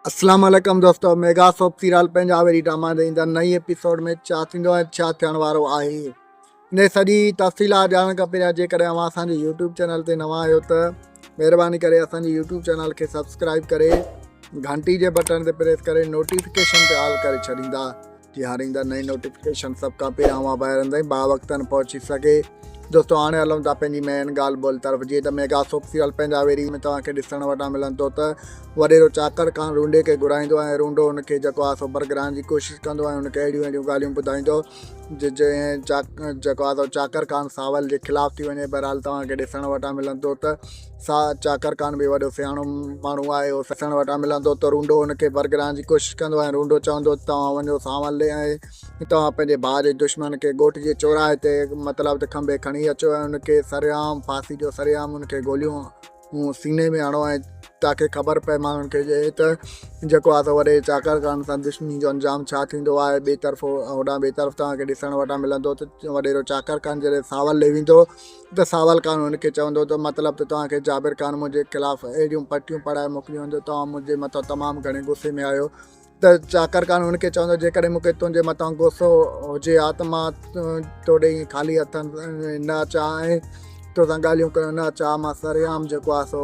اسلام عليڪم دوستو ميگا سوپ سيريل پنهنجا وري ڊراما ڏئي ايندڙ نئين ايپيسوڊ ۾ ڇا ٿيندو ۽ ڇا ٿيڻ وارو آهي ان جي سڄي تفصيلات ڄاڻڻ کان پهريان جيڪڏهن اوهان اسان جي يوٽيوب چينل تي نوان آهيو ته مهرباني ڪري اسان جي يوٽيوب چينل کي سبسڪرائب ڪري گھنٽي جي بٽڻ تي پريس ڪري نوٽيفڪيشن تي آل ڪري ڇڏيندا تيارين جا نئين نوٽيفڪيشن سڀ کان پهريان اوهان ڀائرن تائين باوقتن پهچي سگهي. دوستو هاڻي هلون ٿا پنهنجي مين ڳالهه ٻولهه طرف جيئن ته ميگا سوپ سيريل پنجاويري ۾ توهان کي ڏسڻ وٽان ملن ٿو ته وڏيرو چاڪر خان رونڊي کي گهرائيندو ۽ رونڊو هن کي جيڪو آهي سو برگرائڻ جي ڪوشش ڪندو ۽ هن کي اهڙيون اهڙيون ڳالهيون ٻڌائيندو جنهن جيڪو آهي سو چاڪر خان ساول جي خلاف ٿي وڃي بهرحال توهان کي ڏسڻ وٽان ملن ٿو ته سا چاڪر کان به وڏو سياڻو ماڻهو آهي. هو سسڻ وٽان ملندو ته رونڊو هن کي برگرائڻ جي ڪوشش ڪندو ۽ رونڊو چوندو ته توهان وڃو سانولي ۽ توهان پنهنجي ڀاء جي دشمن کي ڳوٺ جي چوراهي تي مطلب ته کنڀي کڻي اچو ۽ ان کي سرعام ڦاسي ڏيو سرعام ان کي گوليون سيني ۾ هڻو ۽ تاڪي خبر پئي ماڻهن کي ته جيڪو آهي سو وڏي چاڪر خان سان دشمني جو انجام ڇا ٿيندو آهي ٻئي طرف هوڏانهن ٻئي طرف توهان کي ڏسڻ وٽان ملندو ته وڏيرو چاڪر خان جڏهن سانولي ويندو ته ساول خان هن کي چوندو ته مطلب ته توهان کي جابر خان منهنجي خلاف اهڙيون پٽيون پڙهائي موڪليون هن جو توهان منهنجي مٿان تمام گهڻي غصي ۾ آهيو ته چاڪر خان هن کي چوندو جيڪڏهن مون کي تنهنجي مٿان غصو هجي ها ته مان توڏي ائين خالي هٿن نه اچان ۽ توسان ڳالهيون ڪرڻ نه اچان مان سرعام جيڪو آهي سو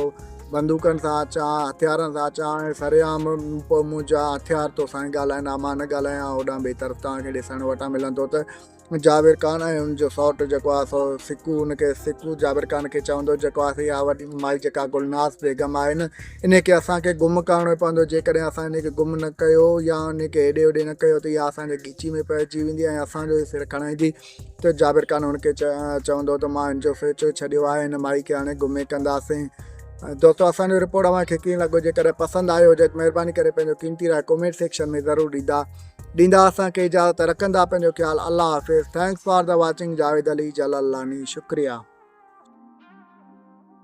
بندوقن سان اچان هٿيارن سان اچان ۽ سرعام پوء منهنجا هٿيار توسان ڳالهائين ها مان نه ڳالهايان هوڏانهن ٻئي طرف توهان کي ڏسڻ وٽان ملندو ته جابر خان ۽ هن جو سئوٽ جيڪو آهي سو سڪو، هن کي سڪو جابر خان کي چوندو هو جيڪو آهي سي اها وڏي مائي جيڪا گلناز بيگم آهي نه انهي کي اسان کي گم ڪرڻو پوندو جيڪڏهن اسان انهي کي گم نه ڪيو يا انهي کي هيڏي هوڏي نه ڪيو ته اها اسان جي ڳچي ۾ پئجي ويندي ۽ اسان جو ئي سر کڻائيندي ته جابر خان هن کي چوندو هو ته مان هن جو سوچيو ڇڏيو آهي هن مائي کي هاڻي گم ئي ڪنداسين. دوستو اسان جو رپورٽ اوهان کي ڪيئن لڳو جيڪڏهن پسند آيو هجي ته مهرباني ڪري پنهنجو قيمتي راء ڪومينٽ سيڪشن ۾ ضرور ڏيندا. ڏيندا اسان کي اجازت رکندا پنهنجو خيال الله حافظ thanks for the watching Javed Ali Jalalani شڪريا.